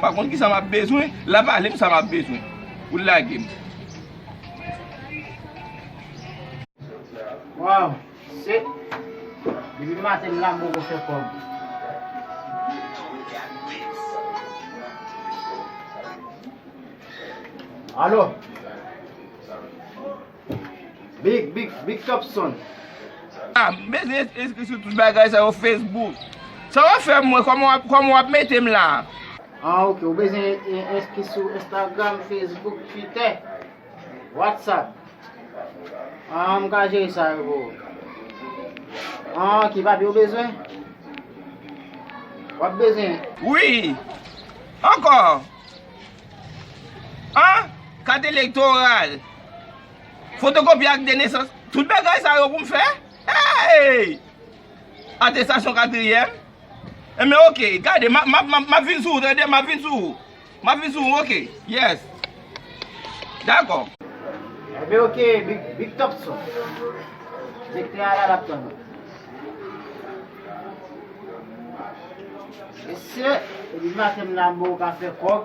M pa konn kisa m ap bezwen la pale m sa m ap bezwen pou l lage m. Waw se depi maten m la m poko fè kòb. Alo. Big big big top son. Ah m bezwen enskri sou tout bagay sa yo Facebook. Sa wap fè mwen kòman wap metem la. Ah ok ou bezwen enskri sou Instagram, Facebook, Twitter, WhatsApp. Ah m ka jere sa yo pou ou. Ah ki papye ou bezwen? Wap bezwen? Wi. Ankò. Ah kat elektoral. Fotokopi ak de nesans. Tout bagay sa yo pou m fè? Hey! Atestasyon katriyèm. Enben ok, gade, m ap vin sou ou tande, m ap vin sou ou. M ap vin sou ou, ok. Yes. Dakò. Enben ok, Big Topson. Direktè a la l ap tann ou. Mesye, depi maten m nan m bon ka fè kòb.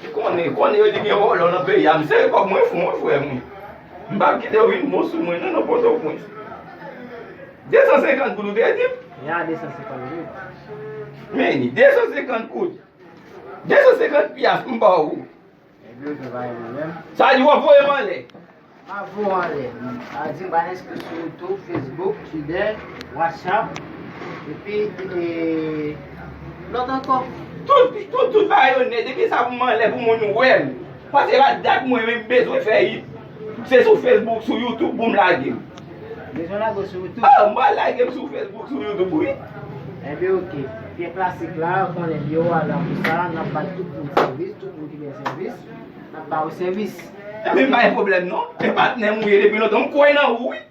Ki konnen, konnen yo di gen vòlò nan peyi a. M sere kòb mwen fon wi frè m wi. M pa kite yo vin bon sou mwen non nan Pòtoprens. 250 goud ou te di m? Yon a 250 goud. Meni, 250 goud. 250 pyas m ba w. Sa di wap voyem anlè. Ma vo w anlè. Sa di m pa enskri sou youtube, facebook, twitter, whatsapp epi lòt ankò. Tout bagay yo nèt, depi sa pou m anlè pou moun wèm. Pase la dat mwen menm bezwen fè it. Se sou Facebook sou YouTube poum lage. Bezwen lage sou YouTube. Ah mwen lagem sou Facebook sou YouTube wi. Ebyen ok. Pye klasik la ou konnen li yo a la pou sa nap bay tout moun sèvis, tout moun ki gen sèvis nap ba ou sèvis. Ebyen pa gen pwoblèm non. E patnèm ou ye depi lontan m kwè nan ou wi.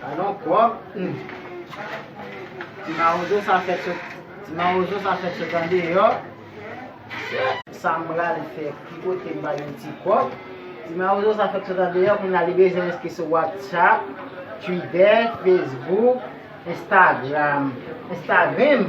Gadon pwòp humm. Ti mawozo sa fèt sot Ti mawozo sa fèt sot andeyò Mesye. Sam pral fè ki kotem pa gen ti kòb Ti mawozo sa fèt sot andeyò kounye a li bezwen enskri sou whatsapp twitter facebook instagram instagrim.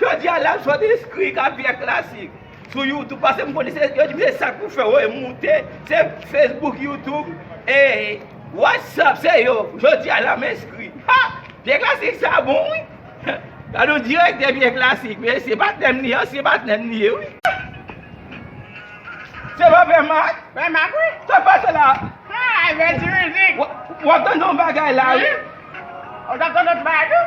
Jodi a lap sòti skri kap vyè klasik sou youtube pase m konnen se yo di m se sak pou fè woy moute se facebook youtube e whatsapp se yo jodi a lap enskri ha vyè klasik sa bon wi gad yon direktè vyè klasik mesye patnè m li ansyen patnè m li ye wi. Se pa pè mak? Pè mak wi. Sak pase la? Ha yon ti mizik. Wap tande yon bagay la wi. Ou tap tande yon ti bagay tou?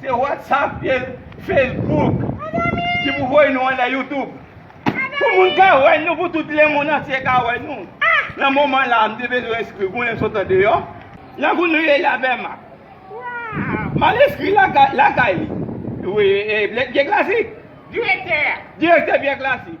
Se WhatsApp vye Facebook ki pou voye nou anlè YouTube pou moun ka wè nou pou tout lemond antye ka wè nou nan moman la m te bezwen enskri gounen sot andeyò nan gounen ye la vèman m al enskri lakay li vye klasik direktè vye klasik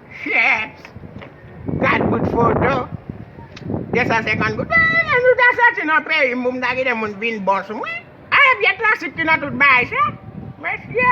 Tchuips! Gad bout foto! 250 goud. Mwen menm jou ta soti nan peyi m pou m ta kite moun vin bon sou mwen. Aah e vye klasik ki nan tout bagay sa. Mesye!